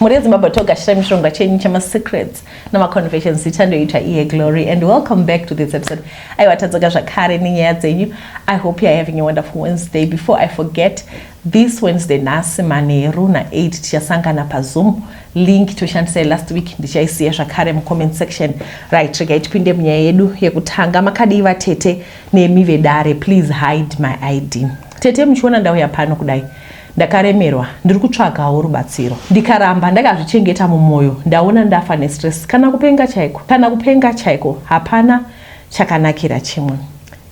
Mhuri yeZimbabwe togashira mishonga chenyu chemasecrets namaconfessions zita ndoitwa iye Glory and welcome back to this episode. Aiwa tadzoka zvakare nenyaya dzenyu. I hope you're having a wonderful Wednesday. Before I forget, this Wednesday nhasi manheru na8 tichasangana paZoom link toshandisa last week ndichaisiya zvakare mucomment section right regai tipinde munyaya yedu yekutanga makadii vatete nemi vedare please hide my id tete muchiona ndauya pano kudai Ndakaremerwa ndiri kutsvagawo rubatsiro ndikaramba ndakazvichengeta mumwoyo ndaona ndafa nestress kana kupenga chaiko kana kupenga chaiko hapana chakanakira chimwe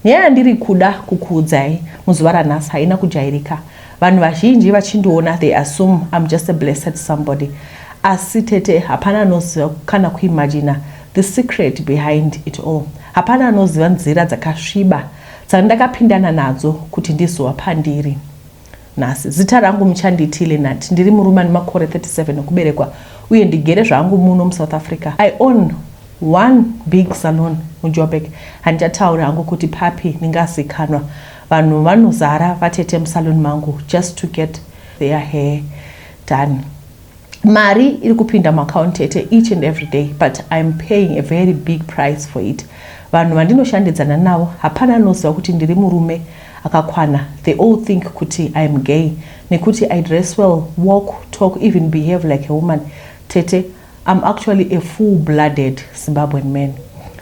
nyaya yandiri kuda kukuudzai muzuva ranhasi haina kujairika vanhu vazhinji vachindiona they assume I'm just a blessed somebody asi tete hapana anoziva kana kuimagina the secret behind it all hapana anoziva nzira dzakasviba dzandakapindana nadzo kuti ndizova pandiri Nhasi. Zita rangu muchanditi Leonard. Ndiri murume ane makore 37 okuberekwa uye ndigere zvangu muno muSouth Africa. I own one big salon muJoburg. Handichatauri hangu kuti papi, ndingazikanwa. Vanhu vanozara vatete musalon mangu just to get their hair done. mari iri kupinda muaccount tete each and every day but iam paying a very big price for it vanhu vandinoshandidzana navo hapana anoziva kuti ndiri murume akakwana they all think kuti iam gay nekuti i dress well walk talk even behave like a woman tete iam actually a full blooded zimbabwean man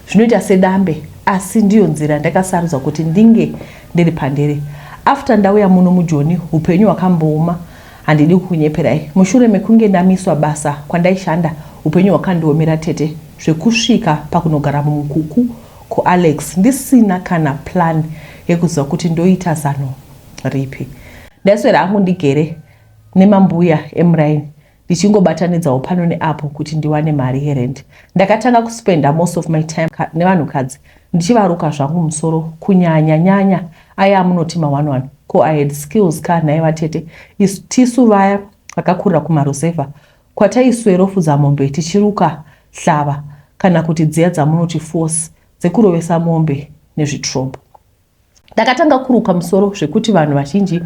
zvinoita sedambe asi ndiyo nzira ndakasarudza kuti ndinge ndiri pandiri after ndauya muno mujoni upenyu hwakambooma Handidi kukunyeperai, mushure mekunge ndamiswa basa kwandaishanda, upenyu hwakandiomera tete zvekusvika pakunogara mumukuku kuAlex ndisina kana plan yekuziva kuti ndoita zano ripi. Ndaiswera hangu ndigere nemambuya emuraini ndichingobatanidzawo pano neapo kuti ndiwane mari yerent. Ndakatanga kuspenda most of my time nevanhukadzi ndichivaruka zvangu musoro kunyanya nyanya Aya amunoti ma one one ko I had skills ka nhai vatete isu tisu vaya vakakurira kumaruzevha kwataiswerofudza mombe tichiruka hlava kana kuti dziya dzamunoti force dzekurovesa mombe nezvitrombo. Ndakatanga kuruka musoro zvekuti vanhu vazhinji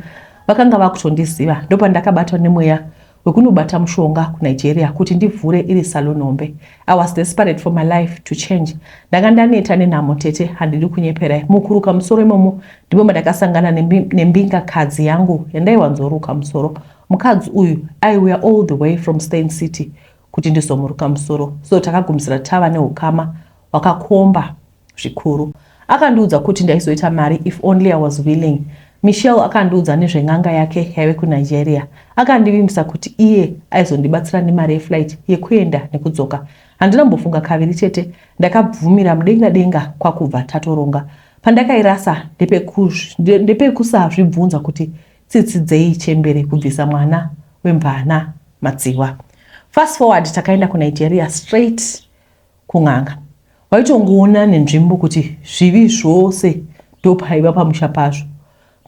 vakanga vakutondiziva ndopandakabatwa nemweya wekunobata mushonga kunigeria kuti ndivhure iri salon hombe i was desperate for my life to change ndanga ndaneta nenhamo tete handidi kunyeperai mukuruka musoro imomo ndimo mandakasangana nembingakadzi yangu yandaiwanzoruka musoro mukadzi uyu aiuya all the way from stain city kuti ndizomuruka musoro so takagumisira tava neukama wakakomba zvikuru. Akandiudza kuti ndaizoita mari if only I was willing. Michelle akandiudza nezven'anga yake yaive kuNigeria. Akandivimbisa kuti iye aizondibatsira nemari yeflight yekuenda nekudzoka. Handina kumbofunga kaviri chete, ndakabvumira mudenga denga kwakubva tatoronga. Pandakairasa ndepekusazvibvunza ndepe kuti tsitsi dzei chembere kubvisa mwana wemvana madziwa. Fast forward takaenda kuNigeria straight kun'anga waitongoona nenzvimbo kuti zvivi zvose ndopaiva pamusha pazvo.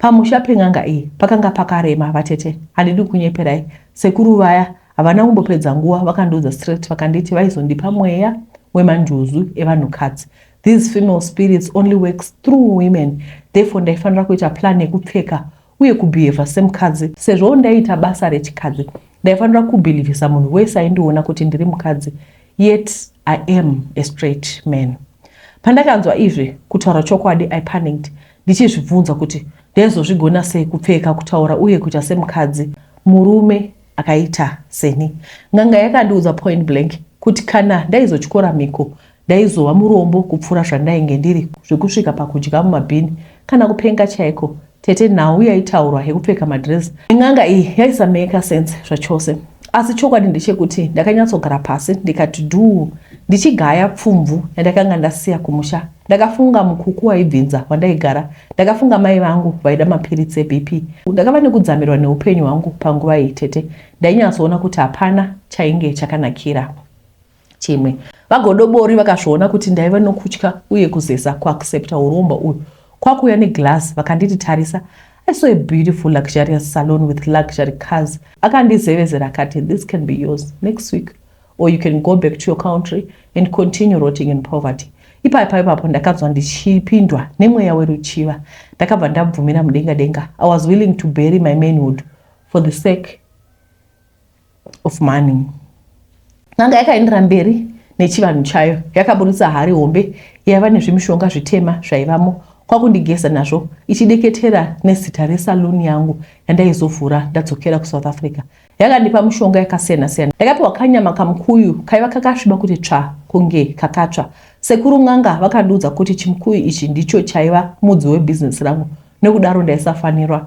Pamusha pen'anga iyi pakanga pakarema vatete, handidi kunyeperai. Sekuru vaya havana kumbopedza nguva vakandiudza straight vakanditi vaizondipa mweya wemanjuzu evanhukadzi. These female spirits only works through women therefore ndaifanira kuita plan yekupfeka uye kubehava semukadzi sezvo ndaiita basa rechikadzi ndaifanira kubhilivhisa munhu wese aindiona kuti ndiri mukadzi yet i am a straight man pandakanzwa izvi kutaura chokwadi i panicked ndichizvibvunza kuti ndaizozvigona sei kupfeka kutaura uye kuita semukadzi murume akaita seni n'anga yakandiudza point blank kuti kana ndaizotyora mhiko ndaizova murombo kupfuura zvandainge ndiri zvekusvika pakudya mumabhini Kana kupenga chaiko. Tete nhau yaitaurwa yekupfeka madress nen'anga iyi yaisamaker sense zvachose. Asi chokwadi ndechekuti ndakanyatsogara pasi ndikati dhuu ndichigaya pfumvu yandakanga ndasiya kumusha. Ndakafunga mukuku waibvinza wandaigara. Ndakafunga mai vangu vaida mapiritsi eBP. Ndakava nekudzamirwa neupenyu hwangu panguva iyi tete. Ndainyatsoona kuti hapana chainge chakanakira. chimwe. VaGodobori vakazviona kuti ndaiva nokutya uye kuzeza kuaccepta uromba uyu kwakuuya neglass vakanditi tarisa I saw a beautiful luxurious salon with luxury cars akandizevezera akati this can be yours next week or you can go back to your country and continue rotting in poverty ipapo ipapo ndakanzwa ndichipindwa nemweya weruchiva ndakabva ndabvumira mudenga denga i was willing to bury my manhood for the sake of money. N'anga yakaendera mberi nechivanhu chayo yakaburitsa hari hombe yaiva nezvimishonga zvitema zvaivamo kwakundigeza nazvo ichideketera nezita resaluni yangu yandaizovhura ndadzokera kusouth africa yakandipa mushonga yakasiyana siyana yakapiwa kanyama kamukuyu kaiva kakasviba kuti tsva kunge kakatsva sekuru n'anga vakandiudza kuti chimukuyu ichi ndicho chaiva mudzi webhizinesi rangu nekudaro ndaisafanirwa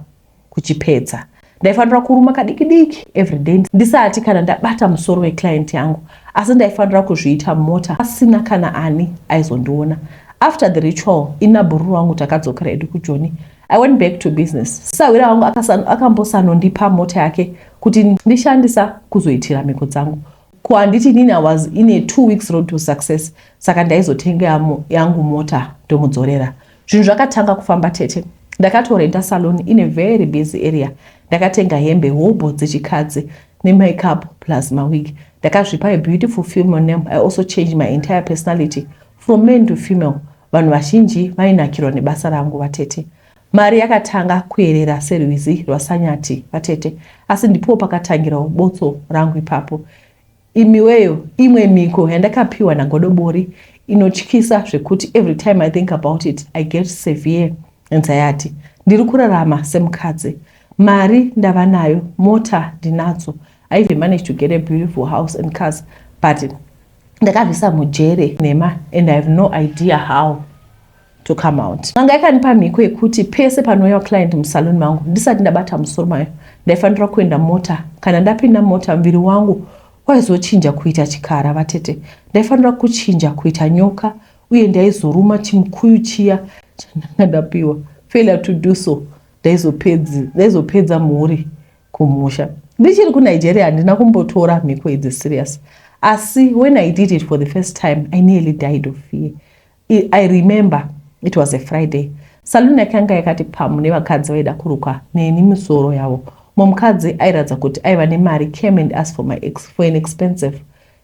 kuchipedza ndaifanira kuruma kadiki diki everyday ndisati kana ndabata musoro weclient yangu asi ndaifanira kuzviita mota pasina kana ani aizondiona after the ritual inabhururu wangu takadzokera edu kujoni I went back to business. Sahwira wangu akambosanondipa mota yake kuti ndishandisa kuzoitira mhiko dzangu. Ko handiti nini I was in a two weeks road to success saka ndaizotenga yangu mota ndomudzorera. Zvinhu zvakatanga kufamba tete. Ndakatorenta salon in a very busy area. Ndakatenga hembe hobho dzechikadzi nemakeup plus mawig. Ndakazvipa a beautiful female name. I also changed my entire personality from man to female. Vanhu vazhinji vainakirwa nebasa rangu vatete. Mari yakatanga kuerera serwizi rwasanyati vatete. Asi ndipowo pakatangirawo botso rangu ipapo. Imiweyo imwe mhiko yandakapiwa nagodobori inotyisa zvekuti every time I think about it I get severe anxiety. Ndiri kurarama semukadzi. Mari ndava nayo, mota ndinadzo. I even managed to get a beautiful house and cars but ndakazvisa mujere nhema and I have no idea how. to come out. N'anga yakandipa mhiko yekuti pese panouya client musalon mangu ndisati ndabata musoro mayo ndaifanira kuenda mota. Kana ndapinda mota muviri wangu waizochinja kuita chikara vatete. Ndaifanira kuchinja kuita nyoka uye ndaizoruma chimukuyu chiya chandanga ndapiwa. Failure to do so ndaizopedza mhuri kumusha. Ndichiri kuNigeria handina kumbotora mhiko idzi serious. Asi when I did it for the first time I nearly died of fear. I, I remember it was a Friday. Saluni yake yanga yakati pamu nevakadzi vaida kurukwa neni misoro yavo. Mumkadzi airatidza kuti aiva nemari came and asked for my ex for an expensive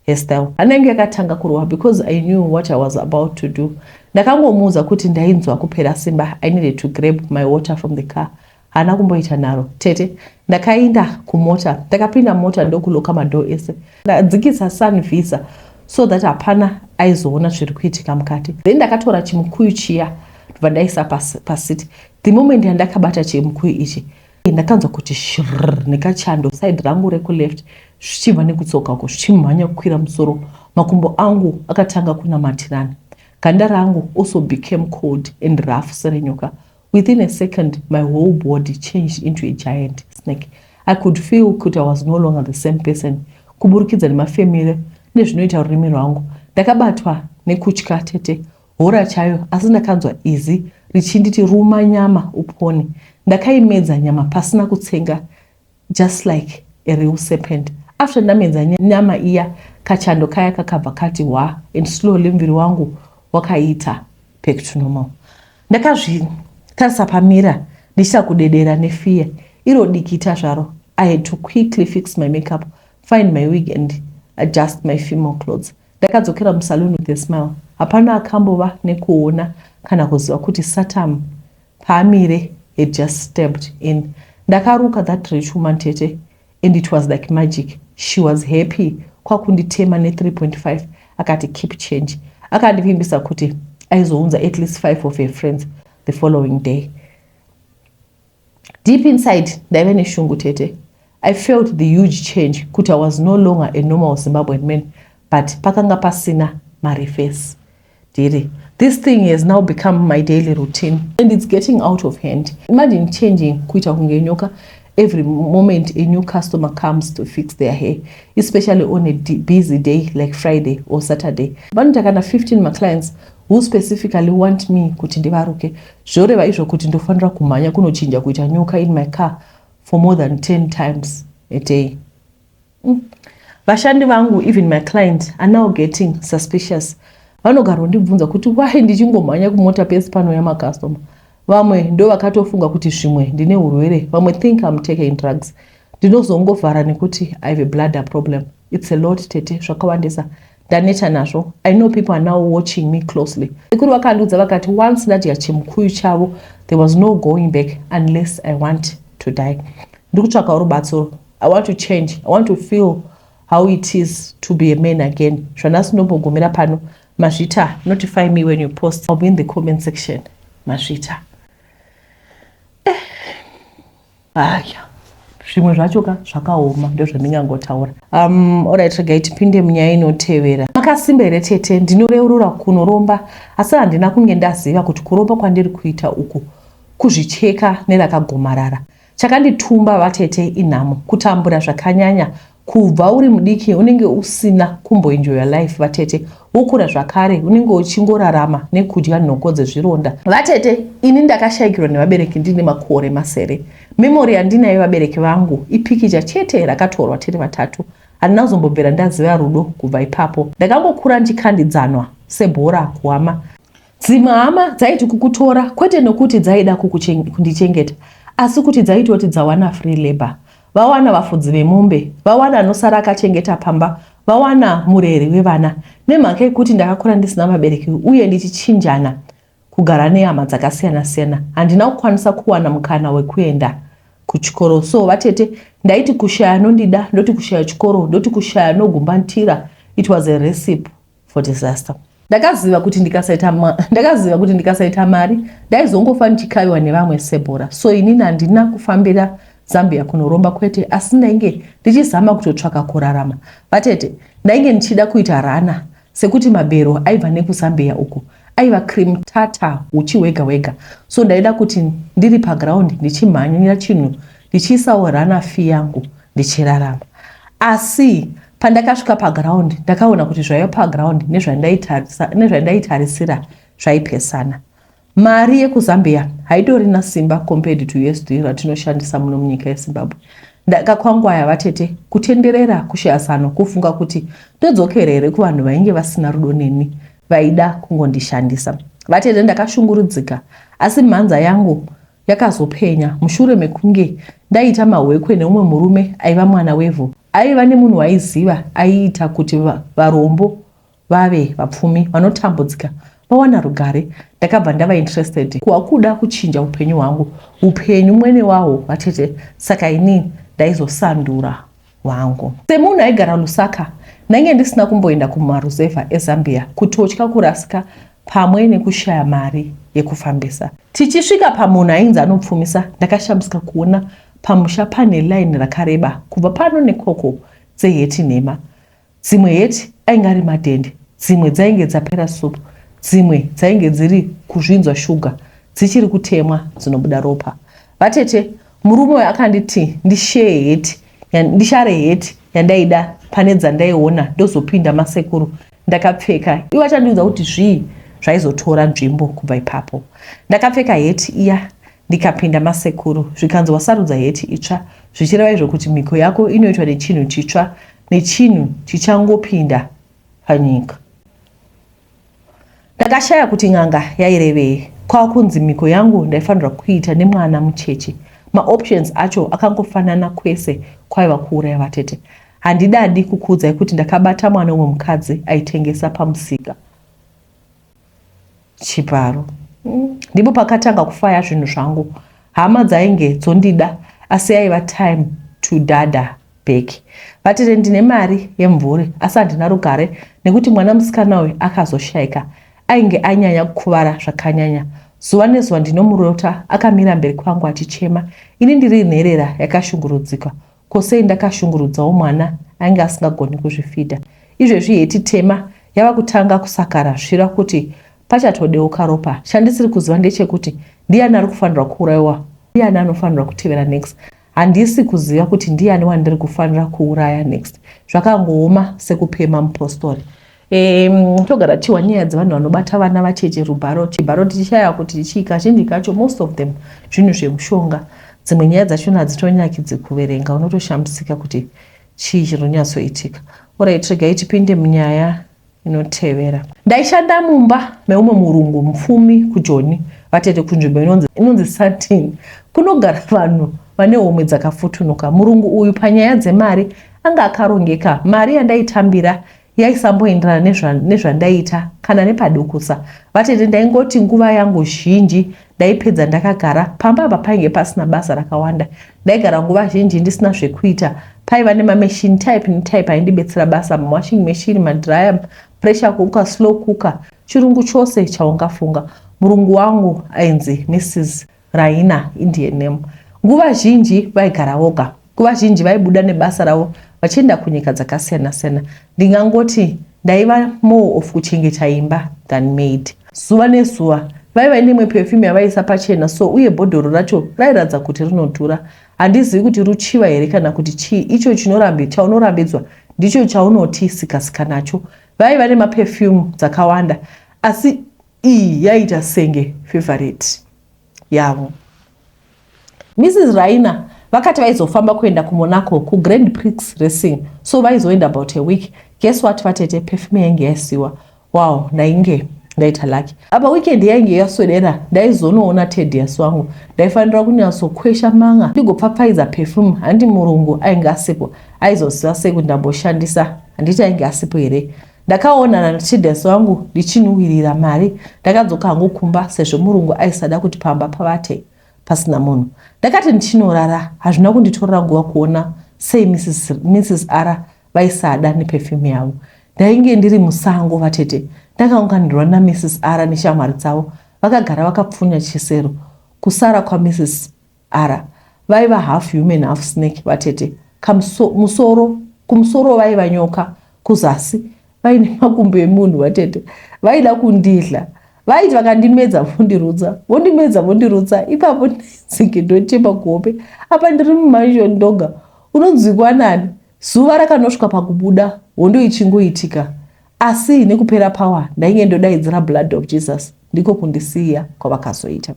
hairstyle. Hana yangu yakatanga kurova because I knew what I was about to do. Ndakangomuudza kuti ndainzwa kupera simba. I needed to grab my water from the car. haana kumboita nharo tete ndakainda kumota ndakapinda mota ndokuloka madhoo ese ndadzikisa sun visa so that hapana aizoona zviri kuitika mukati then ndakatora chimukuyu chiya ndobva ndaisa pasiti the moment yandakabata chimukuyu ichi ndakanzwa kuti shrr nekachando side rangu rekuleft zvichibva nekutsoka uko zvichimhanya kukwira musoro makumbo angu akatanga kunamatirana ganda rangu also became cold and rough serenyoka Within a second my whole body changed into a giant snake. I could feel kuti I was no longer the same person kuburikidza nemafemere nezvinoita rurimi rwangu. Ndakabatwa nekutya tete hora chayo asi ndakanzwa izi richinditi ruma nyama upone. Ndakaimedza nyama pasina kutsenga Just like a real serpent after ndamedza nyama iya kachando kaya kakabva kati hwa and slowly muviri wangu wakaita back to normal. Ndakazvitarisa pamira ndichita kudedera nefear iro dikita zvaro. I had to quickly fix my makeup, find my wig and adjust my female clothes. Ndakadzokera musaloon with a smile. Hapana akambova nekuona kana kuziva kuti Satam paamire had just stepped in ndakaruka that rich woman tete and it was like magic she was happy kwakunditema ne 3.5 akati keep change akandivimbisa kuti aizounza at least five of her friends the following day deep inside ndaive neshungu tete i felt the huge change kuti i was no longer a normal zimbabwean man but pakanga pasina marefesi Diri. This thing has now become my daily routine and it's getting out of hand. Imagine changing kuita kunge nyoka every moment a new customer comes to fix their hair especially on a busy day like friday or saturday vanoita kana 15 maclients who specifically want me kuti ndivaruke zvoreva izvo kuti ndofanira kumhanya kunochinja kuita nyoka in my car for more than 10 times a day Umm vashandi vangu even my client are now getting suspicious vanogarwa ndibvunza kuti why ndichingomhanya kumota pese panouya macustomer vamwe ndo vakatofunga kuti zvimwe ndine urwere vamwe think im taking drugs ndinozongovhara nekuti i have a bladder problem its a lot tete zvakawandisa ndaneta nazvo i know people are now watching me closely sekuru vakandiudza vakati once ndadya chimukuyu chavo there was no going back unless i want to die ndiri kutsvakawo rubatsiro i want to change i want to feel how it is to be a man again zvandasinombogumira pano mazvita notify me when you post i'll be in the comment section mazvita aya zvimwe zvacho ka zvakaoma ndozvandingangotaura um, orit regai tipinde munyaya inotevera makasimba here tete ndinoreurura kunoromba asi handina kunge ndaziva kuti kuromba kwandiri kuita uku kuzvicheka nerakagomarara chakanditumba vatete inhamo kutambura zvakanyanya Kubva uri mudiki unenge usina kumboenjoya life vatete. Wokura zvakare unenge uchingorarama nekudya nhoko dzezvironda. Vatete, ini ndakashaikirwa nevabereki ndine makore masere. Memory yandinayo yevabereki vangu ipikicha chete rakatorwa tiri vatatu. Handina kuzombobvira ndaziva rudo kubva ipapo. Ndakangokura ndichikandidzanwa sebhora kuhama. Dzimwe hama dzaiti kukutora kwete nokuti dzaida kundichengeta asi kuti dzaitoti dzawana free labor, vawana vafudzi vemombe, vawana anosara akachengeta pamba, vawana mureri wevana. Nemhaka yekuti ndakakura ndisina vabereki uye ndichichinjana kugara nehama dzakasiyana siyana, handina kukwanisa kuwana mukana wekuenda kuchikoro. So vatete ndaiti kushaya anondida, ndoti kushaya chikoro, ndoti kushaya anogumbatira. It was a recipe. for disaster ndakaziva kuti ndikasaita ndakaziva kuti ndikasaita mari ndaizongofa ndichikaviwa nevamwe sebhora so inini handina kufambira zambia kunoromba kwete asi ndainge ndichizama kutotsvaka kurarama vatete ndainge ndichida kuita rana sekuti mabhero aibva nekuzambia uku aiva cream tata uchi hwega hwega so ndaida kuti ndiri paground ndichimhanyira chinhu ndichiisawo rana fi yangu ndichirarama asi Pandakasvika paground ndakaona kuti zvaiva paground nezvandaitarisira zvaipesana. Mari yekuZambia haitorina simba compared to USD ratinoshandisa muno munyika yeZimbabwe. Ndakakwangwaya vatete kutenderera kushayasano kufunga kuti ndodzokera here kuvanhu vainge vasina rudo neni vaida kungondishandisa. Vatete ndakashungurudzika asi mhanza yangu yakazopenya mushure mekunge ndaita mahwekwe neumwe murume aiva mwana wevhu aiva nemunhu waiziva aiita kuti varombo vave vapfumi vanotambudzika vawana rugare ndakabva ndava interested kuwakuda kuchinja upenyu hwangu upenyu mwene wawo vatete saka ini ndaizosandura wangu. Semunhu aigara Lusaka, ndainge ndisina kumboenda kumaruzevha eZambia kutotya kurasika pamwe nekushaya mari yekufambisa. Tichisvika pamunhu ainzi anopfumisa, ndakashamisika kuona pamusha pane laini rakareba kubva pano nekoko dzeheti nhema. Dzimwe heti ainge ari madhende, dzimwe dzainge dzapera supu, dzimwe dzainge dziri kuzvinzwa shuga, dzichiri kutemwa dzinobuda ropa. Vatete, murume uyu akanditi ndisheye heti, ndishare heti yandaida pane dzandaiona ndozopinda masekuru ndakapfeka. Ivo achandiudza kuti zvii zvaizotora nzvimbo kubva ipapo. Ndakapfeka heti iya ndikapinda masekuru zvikanzi wasarudza heti itsva zvichireva izvo kuti mhiko yako inoitwa nechinhu chitsva nechinhu chichangopinda panyika. Ndakashaya kuti n'anga yairevei kwakunzi mhiko yangu ndaifanirwa kuita nemwana mucheche. Maoptions acho akangofanana kwese kwaiva kuuraya vatete. Handidadi kukuudzai kuti ndakabata mwana umwe mukadzi aitengesa pamusika. chibharo ndipo pakatanga kufaya zvinhu zvangu hama dzainge dzondida asi yaiva time to dada back vatete ndine mari yemvuri asi handina rugare nekuti mwana musikana uyu akazoshaika ainge anyanya kukuvara zvakanyanya zuva nezuva ndinomurota akamira mberi kwangu achichema ini ndiri nherera yakashungurudzika Ko sei ndakashungurudzawo mwana ainge asingagoni kuzvifidha. Izvezvi heti tema yava kutanga kusakara zvira kuti pachatodeuka ropa. Chandisiri kuziva ndechekuti ndiani ari kufanirwa kuurayiwa, ndiani anofanirwa kutevera next. Handisi kuziva kuti ndiani wandiri kufanira kuuraya next. Zvakangooma sekupema mupostori. Um, togara tichiwa nyaya dzevanhu vanobata vana vacheche rubharo chibharo tichishaya kuti chii kazhinji kacho most of them zvinhu zvemushonga dzimwe nyaya dzachona hadzitonyakidzi kuverenga unotoshambisika kuti chii chiri kunyatsoitika orit regai tipinde munyaya inotevera ndaishanda mumba meumwe murungu mupfumi kujoni vatete kunzvimbo inonzi, inonzi satin kunogara vanhu vane homwe dzakafutunuka murungu uyu panyaya dzemari anga akarongeka mari yandaitambira yaisamboenderana nezva, nezvandaiita kana nepadukusa vatete ndaingoti nguva yangu zhinji ndaipedza ndakagara pamba apa painge pasina basa rakawanda ndaigara nguva zhinji ndisina zvekuita paiva nemamachine type netype aindibetsera basa mawashing machine madryer pressure cooker slow cooker chirungu chose chaungafunga murungu wangu ainzi mrs Raina, Indian name. Nguva zhinji vaigara voga. Nguva zhinji vaibuda nebasa ravo vachienda kunyika dzakasiyana siyana. Ndingangoti ndaiva more of kuchengeta imba than maid. Zuva nezuva vaiva nemwe perfume yavaiisa pachena so uye bhodhoro racho rairatidza kuti rinodhura handizivi kuti ruchiva here kana kuti chii icho chinorambi chaunorambidzwa ndicho chaunoti sikasika nacho vaiva nemaperfume dzakawanda asi Iyi yaita senge favorite yavo. Mrs Raina vakati vaizofamba kuenda kuMonaco kuGrand Prix Racing so vaizoenda about a week. Guess what vatete perfume yainge yasiwa. Wow, ndainge ndaita lucky. Apa weekend yainge yaswedera ndaizonoona Tedious wangu. Ndaifanira kunyatsokwesha manga ndigopfapfaidza perfume handi murungu ainge asipo aizoziva sei kuti ndamboshandisa handiti ainge asipo here. Ndakaonana naTides wangu ndichinhuhwirira mari. Ndakadzoka hangu kumba sezvo murungu aisada kuti pamba pavate pasina munhu. Ndakati ndichinorara hazvina kunditorera nguva kuona sei Mrs. Mrs. Ara vaisada neperfume yavo. Ndainge ndiri musango vatete. Ndakaunganirwa naMrs. Ara neshamwari dzavo. Vakagara vakapfunya chisero. Kusara kwaMrs. Ara vaiva half human half snake vatete kamuso musoro kumusoro vaiva nyoka kuzasi vaine makumbo emunhu vatete vaida kundidla vaiti vakandimedza vondirutsa vondimedza vondirutsa ipapo ndaidzike ndochema kuhope apa ndiri mumansion ndoga unonzwikwa nani zuva rakanosvika pakubuda hondo ichingoitika asi nekupera power ndainge ndodaidzira blood of jesus ndiko kundisiya kwavakazoita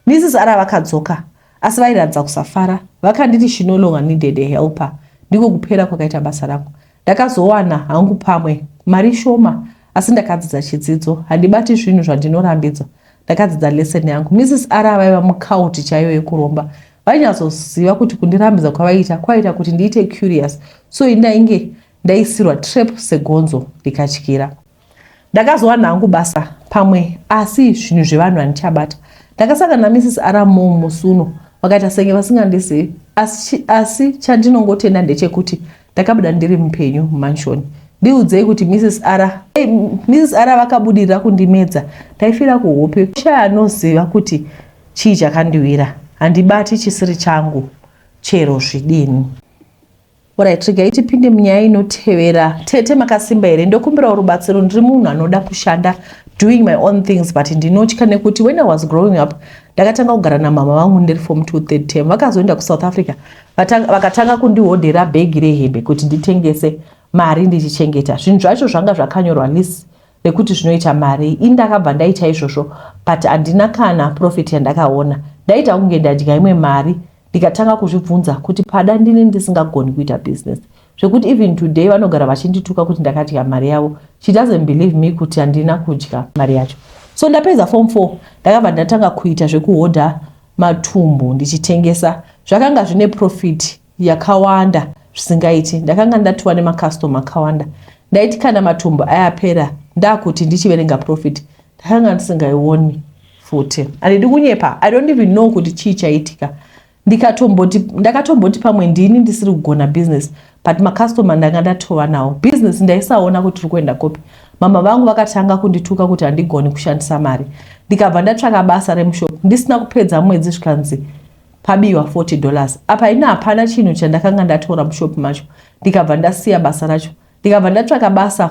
Mrs Ara vakadzoka asi vairatidza kusafara. Vakanditi she no longer needed a helper. Ndiko kupera kwakaita basa rangu. Ndakazowana hangu pamwe mari shoma asi ndakadzidza chidzidzo. Handibati zvinhu zvandinorambidzwa. Ndakadzidza lesson yangu. Mrs Ara vaiva mucult chaiyo yekuromba. Vainyatsoziva kuti kundirambidza kwavaiita kwaiita kuti ndiite curious. So indainge ndaisirwa trap segonzo rikatyira. ndakazowana hangu basa pamwe asi zvinhu zvevanhu handichabata ndakasangana namrs aramo musi uno vakaita senge vasingandizivi asi, asi chandinongotenda ndechekuti ndakabuda ndiri mupenyu mumanshoni ndiudzei kuti mrs ara hey, mrs ara vakabudirira kundimedza ndaifira kuhope kushaya anoziva kuti chii chakandiwira handibati chisiri changu chero zvidini Alright, regai tipinde munyaya inotevera. Tete makasimba here? Ndokumbirawo rubatsiro, ndiri munhu anoda kushanda doing my own things but ndinotya nekuti when I was growing up ndakatanga kugara namama vangu ndiri form 2 third term vakazoenda kuSouth Africa vakatanga kundihodhera bhegi rehembe kuti nditengese mari ndichichengeta zvinhu zvacho zvanga zvakanyorwa list rekuti zvinoita mari ini ndakabva ndaita izvozvo but handina kana profit yandakaona ndaita kunge ndadya imwe mari ndikatanga kuzvibvunza kuti pada ndini ndisingagoni kuita business zvekuti even today vanogara vachindituka kuti ndakadya mari yavo she doesn't believe me kuti handina kudya mari yacho so ndapedza form four ndakabva ndatanga kuita zvekuhodha matumbu ndichitengesa zvakanga zvine profit yakawanda zvisingaiti ndakanga ndatiwa nemacustoma akawanda ndaiti kana matumbu ayapera ndakuti ndichiverenga profit ndakanga ndisingaioni futi handidi kunyepa i don't even know kuti chii chaitika ndikatomboti ndakatomboti pamwe ndini ndisiri kugona business but macustomer ndanga ndatova nawo business ndaisaona kuti tiri kuenda kopi mama vangu vakatanga kundituka kuti handigoni kushandisa mari ndikabva ndatsvaka basa remushop ndisina kupedza mwedzi zvikanzi pabiwa 40 dollars apa ina hapana chinhu chandakanga ndatora mushop macho ndikabva ndasiya basa racho ndikabva ndatsvaka basa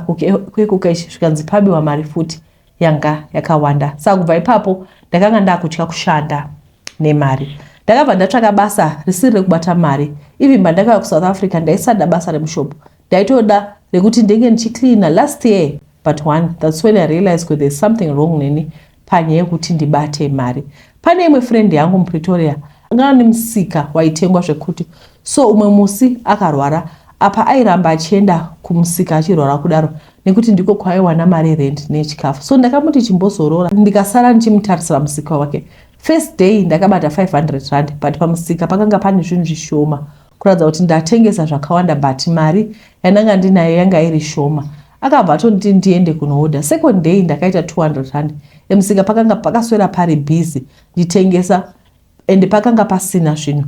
kwekukeshi zvikanzi pabiwa mari futi yanga yakawanda saka kubva ipapo ndakanga ndakutya kushanda nemari ndakabva ndatsvaka basa risiri rekubata mari even pandakauya kuSouth Africa ndaisada basa remushopo ndaitoda rekuti ndenge ndichicleana last year but one that's when I realized kuti there's something wrong neni panyaya yekuti ndibate mari pane imwe friend yangu mupretoria anga ane musika waitengwa zvekuti so umwe musi akarwara apa airamba achienda kumusika achirwara kudaro nekuti ndiko kwaiwana mari yerent neyechikafu so ndakamuti chimbozorora ndikasara ndichimutarisira musika wake first day ndakabata 500 rand but pamusika pakanga pane zvinhu zvishoma kuratidza kuti ndatengesa zvakawanda but mari yandanga ndinayo yanga iri shoma akabva atonditi ndiende kunooda second day ndakaita 200 rand emusika pakanga pakaswera pari busy nditengesa and pakanga pasina zvinhu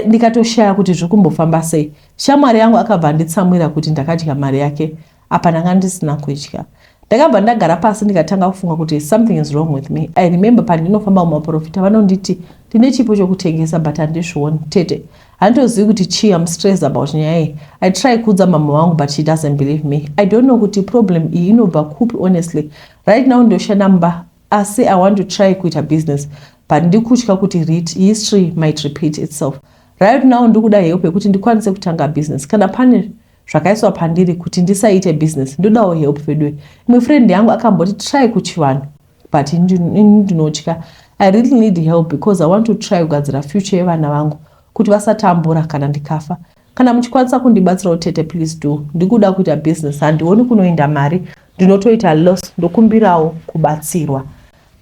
ndikatoshaya kuti zviri kumbofamba sei. Shamwari yangu akabva anditsamwira kuti ndakadya mari yake apa ndanga ndisina kudya. Ndakabva ndagara pasi ndikatanga kufunga kuti something is wrong with me. I remember pandinofamba mumaprofita vanonditi ndine chipo chokutengesa but handizvioni. Tete handitozivi kuti chii am stressed about nyaya iyi i try kuudza mama wangu but she doesn't believe me i don't know kuti problem iyi inobva kupi honestly right now ndoshanda mumba Asi I want to try kuita business but ndikutya kuti rit history might repeat itself. Right now ndikuda help yekuti ndikwanise kutanga business. Kana pane zvakaiswa pandiri kuti ndisaite business ndodawo help veduwe. Imwe friend yangu akamboti try kuchivanhu but ini ndinotya. I really need help because I want to try kugadzira future yevana vangu kuti vasatambura kana ndikafa. Kana muchikwanisa kundibatsirawo tete please do. Ndikuda kuita business handioni kunoenda mari ndinotoita loss ndokumbirawo kubatsirwa.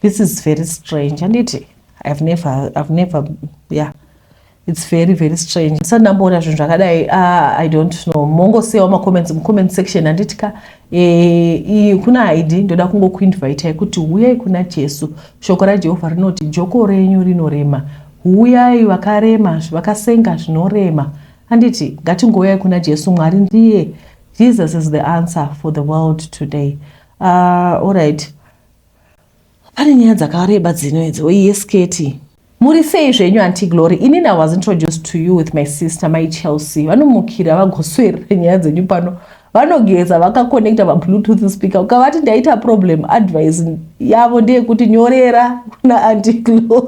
This is very strange handiti? I've never, I've never, yeah it's very very strange ndisati ndamboona zvinhu zvakadai ah, i don't know mongosiyawo macomments mucomment section handitika e, kuna id ndoda kungokuinvitai kuti huyai kuna jesu shoko rajehovha rinoti joko renyu rinorema Huyai vakarema, vakasenga zvinorema. Handiti ngatingouyai kuna Jesu, Mwari ndiye. Jesus is the answer for the world today. Uh, ah, alright. Pane nyaya dzakareba dzino idzi, oiye sketi. Muri sei zvenyu anti Glory? Ini now was introduced to you with my sister mai Chelsea. Vanomukira vagoswerera nyaya dzenyu pano vanogeza vakakonekta pabluetooth speaker ukavati ndaita problem advice yavo ndeyekuti nyorera kuna antiglory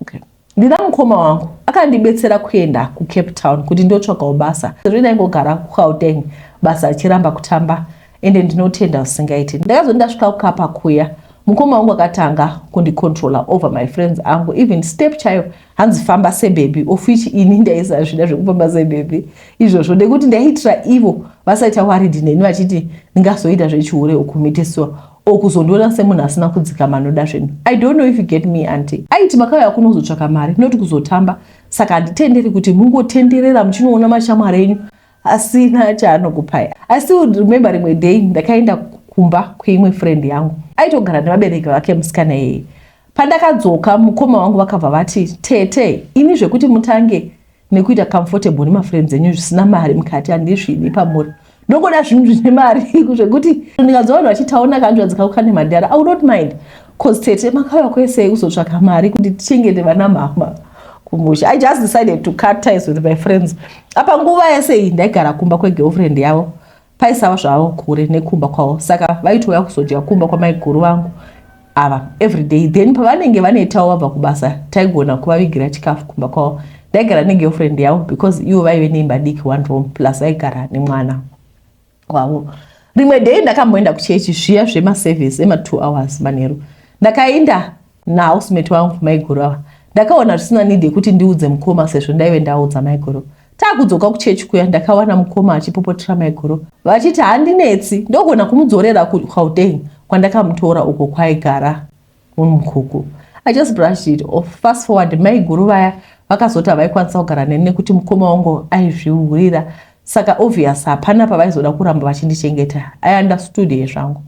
okay. ndina mukoma wangu akandibetsera kuenda kucape town kuti ndotsvakawo basa sezvo ndaingogara kugauteng basa richiramba kutamba ende ndinotenda usingaiti ndakazo ndasvika kukapa kuya mukoma wangu akatanga kundicontrola over my friends angu even step chayo hanzi famba sebhebhi of which ini ndaisazvida zvekufamba sebhebhi izvozvo nekuti ndaiitira ivo vasaita waridi neni vachiti ndingazoita zvechihure okumitisiwa okuzondiona semunhu asina kudzika manoda zvenhu i don't know if you get me anti aiti makauya kunozotsvaka mari not kuzotamba saka handitenderi kuti mungotenderera muchinoona mashamwari enyu asina chaanokupai asi remember rimwe day ndakaenda kumba kweimwe friend yangu aitogara nevabereki vake musikana iyeye pandakadzoka mukoma wangu vakabva vati tete ini zvekuti mutange nekuita comfortable nemafriends enyu zvisina mari mukati handisvidi pamuri ndokuda zvinhu zvine mari zvekuti ndikadzoa vanhu vachitaona kanzvadzika kukane madhara i will not mind cause tete makauya kwese kuzotsvaka mari kuti tichengete vana mama kumusha i just decided to cut ties with my friends apa nguva yese iyi ndaigara kumba kwegirlfriend yavo paisava zvavo kure nekumba kwavo saka vaitouya kuzodya kumba kwamaiguru vangu ava everyday then pavanenge vanetawo vabva kubasa taigona kuvavigira chikafu kumba kwavo ndaigara negirlfriend yavo because ivo vaive neimba diki one room plus vaigara nemwana wavo rimwe day ndakamboenda kuchechi zviya zvemaservice ematwo hours manheru ndakaenda nahousemate wangu maiguru ava ndakaona zvisina need yekuti ndiudze mukoma sezvo ndaive ndaudza maiguru takudzoka kuchechi kuya ndakawana mukoma achipopotera maiguru vachiti handinetsi ndogona kumudzorera kugauteng kwandakamutora uko kwaigara Mukoko. I just brushed it off. Fast forward, maiguru vaya vakazoti havaikwanisa kugara neni nekuti mukoma wangu aizvihurira saka obvious hapana pavaizoda kuramba vachindichengeta. I understood here zvangu.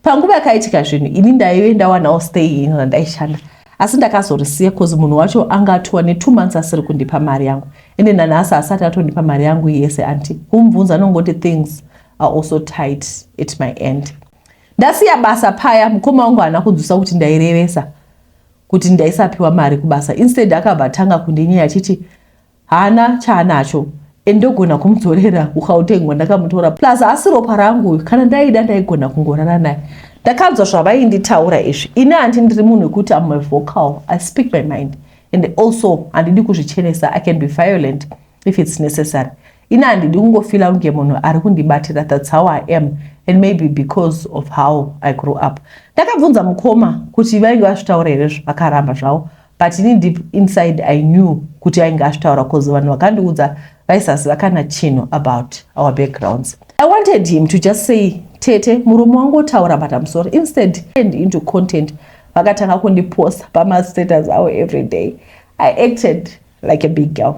Panguva yakaitika zvinhu ini ndaive ndawanawo stay ino randaishanda asi ndakazorisiya bcause munhu wacho anga atuwa netwo months asiri kundipa mari yangu ende nanhasi asati atondipa mari yangu yese anti kumbvunza anongoti things are also tight at my end Ndasiya basa paya mukoma wangu haana kudzusa kuti ndairevesa kuti ndaisapiwa mari kubasa. Instead akabva atanga kundinyaya achiti haana chaanacho and ndogona kumudzorera kuGauteng wandakamutora plus haasi ropa rangu uyu kana ndaida ndaigona kungorara naye. Ndakanzwa zvavainditaura izvi. Ini hanti ndiri munhu wekuti am a vocal, I speak my mind and also handidi kuzvichenesa, I can be violent if it's necessary. ini handidi kungofila kunge munhu ari kundibatira thats how i am and maybe because of how i grew up ndakabvunza mukoma kuti vainge vazvitaura here zvakaramba zvavo but ini deep inside i knew kuti ainge azvitaura bcause vanhu vakandiudza vaisaziva kana chinhu about our backgrounds i wanted him to just say tete murume wangu otaura but im sorry instead and into content vakatanga kundiposta pamastatus avo every day i acted like a big girl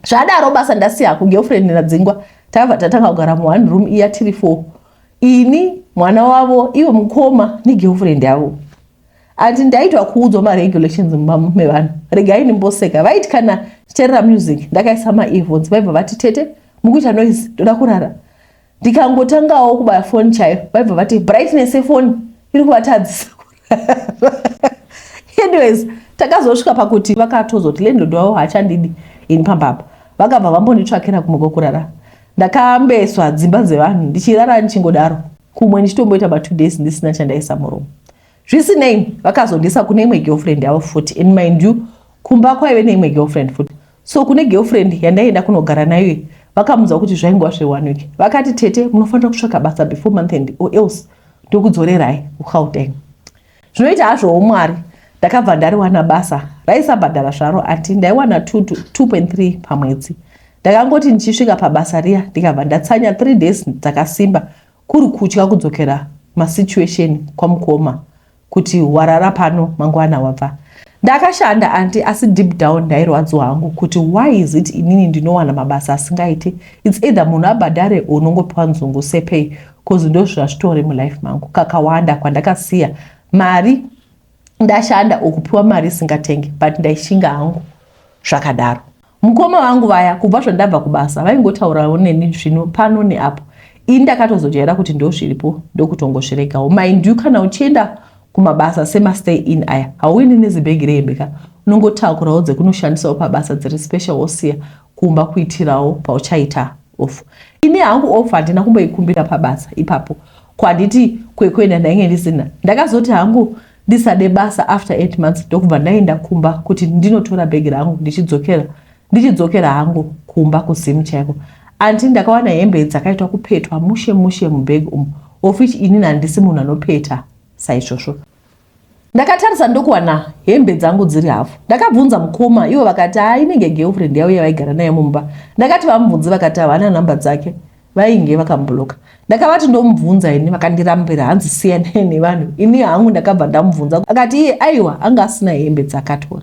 zvadaro basa ndasiya kugirlfriend radzingwa tava tatanga kugara mu one room iya tiri four ini mwana wavo ivo mukoma negirlfriend yavo andi ndaitwa kuudzwa maregulations mumba mevanhu regai ndimboseka vaiti kana tichaerera music ndakaisa maearphones vaibva vati tete mukuita noise ndoda kurara ndikangotangawo kubaya foni chaiyo vaibva vati brightness yefoni iri kuvatadzisa anyways takazosvika pakuti vakatozoti landlord wavo haachandidi ini pamba apa vakabva vambonditsvakira kumwe kwekurara ndakambeswa dzimba dzevanhu ndichirara ndichingodaro kumwe ndichitomboita batwo days ndisina chandaisa murumu zvisinei vakazondiisa kune imwe girlfriend yavo futi and mind you kumba kwaive neimwe girlfriend futi so kune girlfriend yandaienda kunogara nayo vakamuudza kuti zvaingwa zveone week vakati tete munofanira kutsvaka basa before month end or else ndokudzorerai kugauteng zvinoita hazvowo mwari ndakabva ndariwana basa raisabhadhara zvaro ati ndaiwana 2.3 pamwedzi ndakangoti ndichisvika pabasa riya ndikabva ndatsanya 3 days dzakasimba Kuri kutya kudzokera masituation kwamukoma kuti warara pano mangwana wabva. Ndakashanda anti asi deep down ndairwadziwa hangu kuti why is it inini ndinowana mabasa asingaiti. It's either munhu abhadhare or unongopiwa nzungu sepay cause ndozvazvitori mulife mangu kakawanda kwandakasiya mari ndashanda or kupiwa mari isingatenge but ndaishinga hangu zvakadaro. Mukoma vangu vaya kubva zvandabva kubasa vaingotaurawo neni zvino pano neapo. Ini ndakatozojaira kuti ndozviripo ndokutongozviregawo. Mind you kana uchienda kumabasa semastay in aya hauendi nezibhegi rehembe ka unongotakurawo dzekunoshandisawo pabasa dziri special wosiya kumba kuitirawo pauchaita off. Ini hangu off handina kumboikumbira pabasa ipapo kwanditi kwekuenda ndainge ndisina. Ndakazoti hangu ndisade basa after 8 months ndokubva ndaenda kumba kuti ndinotora bhegi rangu ndichidzokera ndichidzokera hangu kumba kuzimu chaiko anti ndakawana hembe dzakaitwa kupetwa mushe mushe mubhegi umu of which inini handisi munhu anopeta saizvozvo ndakatarisa ndokuwana hembe dzangu dziri hafu ndakabvunza mukoma ivo vakati haa inenge girlfriend yavo yavaigara nayo mumba ndakati vamubvunzi vakati havana nhamba dzake vainge vakabloka ndakavati ndomubvunza ini vakandirambira hanzi siyanai nevanhu ini hangu ndakabva ndamubvunza akati iye aiwa anga asina hembe dzakatora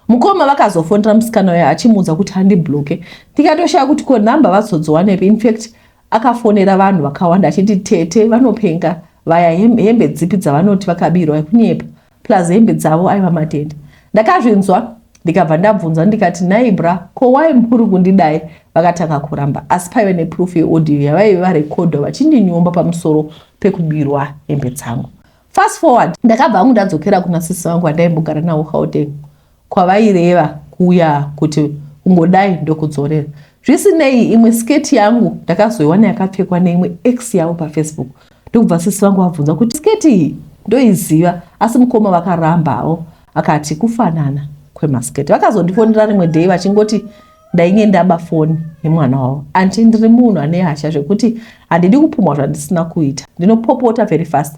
mukoma vakazofonera musikana uya achimuudza kuti handibloke ndikatoshaya kuti ko nhamba vazodziwanepi infact akafonera vanhu vakawanda achiti tete vanopenga vaya hembe dzipi dzavanoti vakabirwa kunyepa plus hembe dzavo aiva matende ndakazvinzwa ndikabva ndabvunzwa ndikati nhai bra ko wai muri kundidai vakatanga kuramba asi paive neproof yeaudio yavaive varekodha vachindinyomba pamusoro pekubirwa hembe dzangu fast forward ndakabva angu ndadzokera kuna sisi vangu vandaimbogara navo gauteng kwavaireva kuya kuti kungodai ndokudzorera. Zvisinei, imwe sketi yangu ndakazoiwana yakapfekwa neimwe ex yavo pafacebook ndokubva sisi vangu vabvunza kuti sketi iyi ndoiziva, asi mukoma vakarambawo akati kufanana kwemasketi. Vakazondifonera rimwe day vachingoti ndainge ndaba foni yemwana wavo anti ndiri munhu ane hasha zvekuti handidi kupumwa zvandisina kuita ndinopopota very fast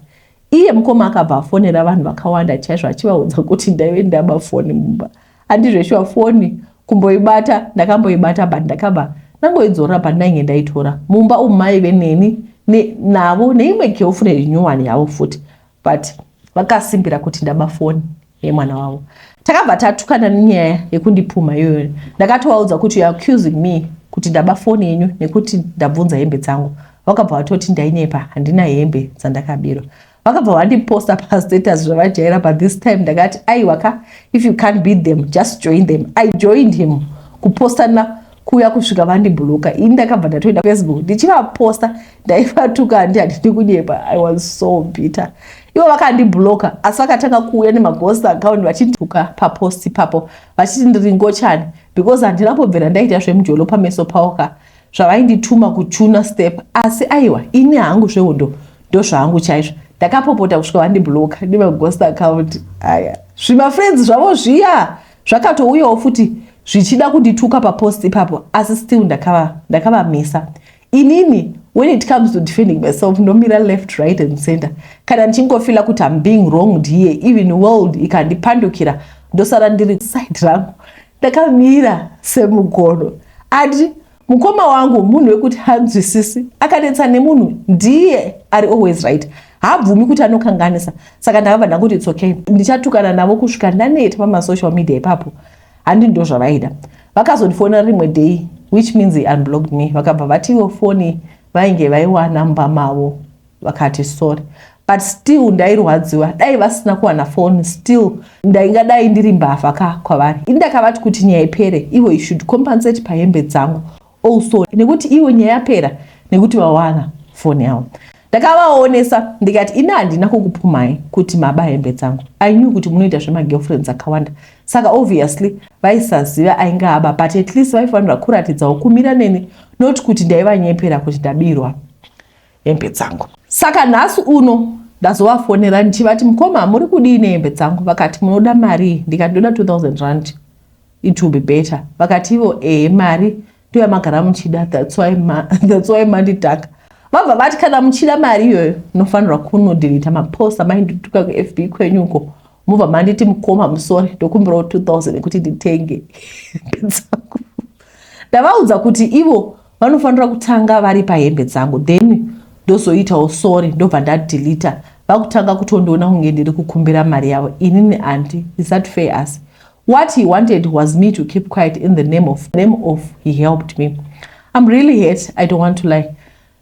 Iye mukoma akabva afonera vanhu vakawanda chaizvo achivaudza kuti ndaive ndaba foni mumba. Handizveshuwa foni kumboibata ndakamboibata but ndakabva ndangoidzorora pandainge ndaitora. Mumba umu maive neni ne, navo neimwe girlfriend nyuwani yavo futi but vakasimbira kuti ndaba foni. yemwana wavo takabva tatukana nenyaya yekundipumha iyoyo ndakatovaudza kuti youare accusing me kuti ndaba foni yenyu nekuti ndabvunza hembe dzangu vakabva vatoti ndainepa handina hembe dzandakabirwa vakabva vandiposta pastatus zvavajaira but this time ndakati aiwa ka if you can't beat them just join them i joined him kupostana kuuya kusvika vandibhuloka ini ndakabva ndatoenda facebook ndichivaposta ndaivatuka handi handidi kunyepa i was so bitter ivo vakandibloka asi vakatanga kuuya nemaghost account vachindituka papost ipapo vachiti ndiri ngochani because handina kubvira ndaita zvemujolo pameso pavo ka zvavaindituma kuchuna step asi aiwa ini hangu zvehondo ndozvaangu chaizvo ndakapopota kusvika vandibloka nemaghost account aya zvimafriends zvavo zviya zvakatouyawo futi zvichida kundituka papost ipapo asi still ndakavamisa ndakava inini when it comes to defending myself ndomira left right and center kana ndichingofila kuti am being wronged here even world ikandipandukira ndosara ndiri side rangu ndakamira semugono ati mukoma wangu munhu wekuti hanzwisisi akanetsa nemunhu ndiye ari always right haabvumi kuti anokanganisa saka ndakabva ndakuti it's okay ndichatukana navo kusvika ndaneta pamasocial media ipapo handi ndozvavaida vakazondifonera rimwe day which means he unblocked me vakabva vatiwo foni vainge vaiwana mumba mavo vakati sorry but still ndairwadziwa dai vasina kuwana foni still ndaingadai ndiri mbavha ka kwavari ini ndakavati kuti nyaya ipere ivo i should compensate pahembe dzangu also nekuti iwo nyaya yapera nekuti vawana foni yavo ndakavaonesa ndikati ini handina kukupumai kuti maba hembe dzangu i knew kuti munoita zvemagirlfriends akawanda saka obviously vaisaziva ainge aba but at least vaifanira kuratidzawo kumira neni not kuti ndaivanyepera kuti ndabirwa hembe dzangu. Saka nhasi uno ndazovafonera ndichivati mukoma muri kudii nehembe dzangu vakati munoda marii ndikati ndoda 2000 rand it will be better vakati ivo ehe mari ndoyamagara muchida that's why mandidhaka vabva vati kana muchida mari iyoyo nofanirwa kunodhirita mapost amaindutuka kufb kwenyu uko mubva manditi mukoma musori ndokumbirawo 2000 ekuti nditenge hembe dzangu ndavaudza kuti ivo vanofanira kutanga vari pahembe dzangu then ndozoitawo sorry ndobva ndadilita vakutanga kutondiona kunge ndiri kukumbira mari yavo inini andi is that fair asi what he wanted was me to keep quiet in the name of, name of he helped me im really hate i don't want to lie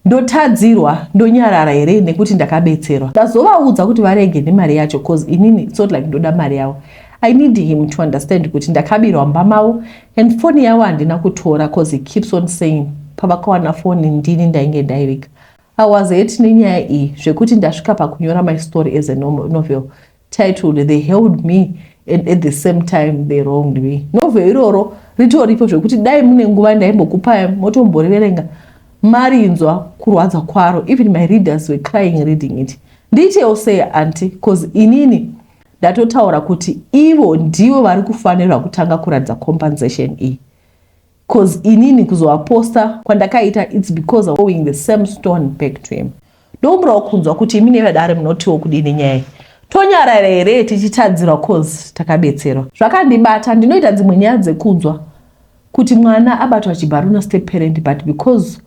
ndotadzirwa ndonyarara here nekuti ndakabetserwa ndazovaudza kuti varege nemari yacho bcause inini it's not like ndoda mari yavo I need him to understand kuti ndakabirwa mba mavo and foni yavo handina kutora cause he keeps on saying pavakawana foni ndini ndainge ndaiviga. I was hate nenyaya iyi zvekuti ndasvika pakunyora my story as a novel titled They Held Me and at the same time they wronged me. Novel iroro ritoripo zvekuti dai mune nguva ndaimbokupai motomboriverenga marinzwa kurwadza kwaro even my readers were crying reading it. Ndiitewo sei anti cause inini ndatotaura kuti ivo ndivo vari kufanirwa kutanga kuratidza compensation iyi bcause inini kuzovaposta kwandakaita its because of going the same stone back to him ndokumbirawo kunzwa kuti imi nevadare munotiwo kudini nyaya iyi tonyarara here tichitadzirwa bcause takabetserwa zvakandibata ndinoita dzimwe nyaya dzekunzwa kuti mwana abatwa chibharuna step parent but because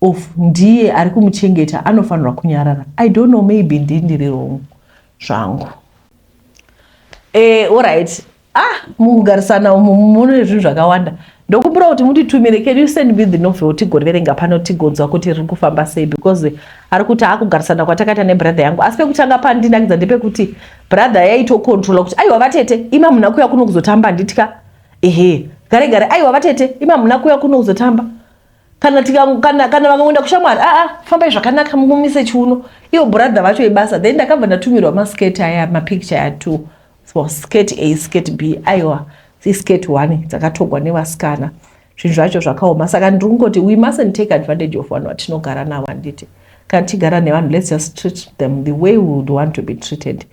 of ndiye ari kumuchengeta anofanirwa kunyarara i don't know maybe ndii ndiri rongo zvangu eh, orit ah mukugarisana umu mune zvinhu zvakawanda ndokumbira kuti mutitumire can you send me the novel tigoverenga pano tigonzwa kuti riri kufamba sei because ari kuti akugarisana kwatakaita nebrother yangu asi pekutanga pandinakidza ndepekuti brother yaitokontrola kuti aiwa vatete ima muna kuya kuno kuzotamba nditya ehe gare gare aiwa vatete ima muna kuya kuno kuzotamba kana tika kana kana vakangoenda kushamwari aa ah, ah, fambai zvakanaka mumise chiuno iyo brother vacho ibasa then ndakabva ndatumirwa maskirt aya mapicture aya two so skirt a skirt b aiwa iskirt one dzakatogwa nevasikana zvinhu zvacho zvakaoma saka ndiri kungoti we mustn't take advantage of vanhu vatinogara navo handiti kana tichigara nevanhu let's just treat them the way we would want to be treated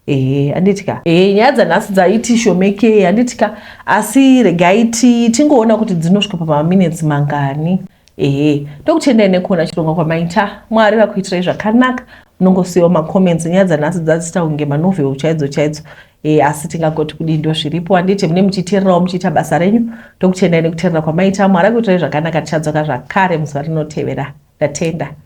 ehe handiti ka ehe nyaya dzanhasi dzaiti shomekei handiti ka asi regai tingoona kuti dzinosvika pamaminetsi mangani ehe ndokutendai nekuona chirongwa kwamaita mwari vakuitirai zvakanaka munongosiyawo macomments nyaya dzanhasi dzazita kunge manovel chaidzo chaidzo e, asi tingagoti kudii ndo zviripo handiti mune muchiteererawo muchiita basa renyu ndokutendai nekuteerera kwamaita mwari akuitirai zvakanaka tichadzoka zvakare muzuva rinotevera ndatenda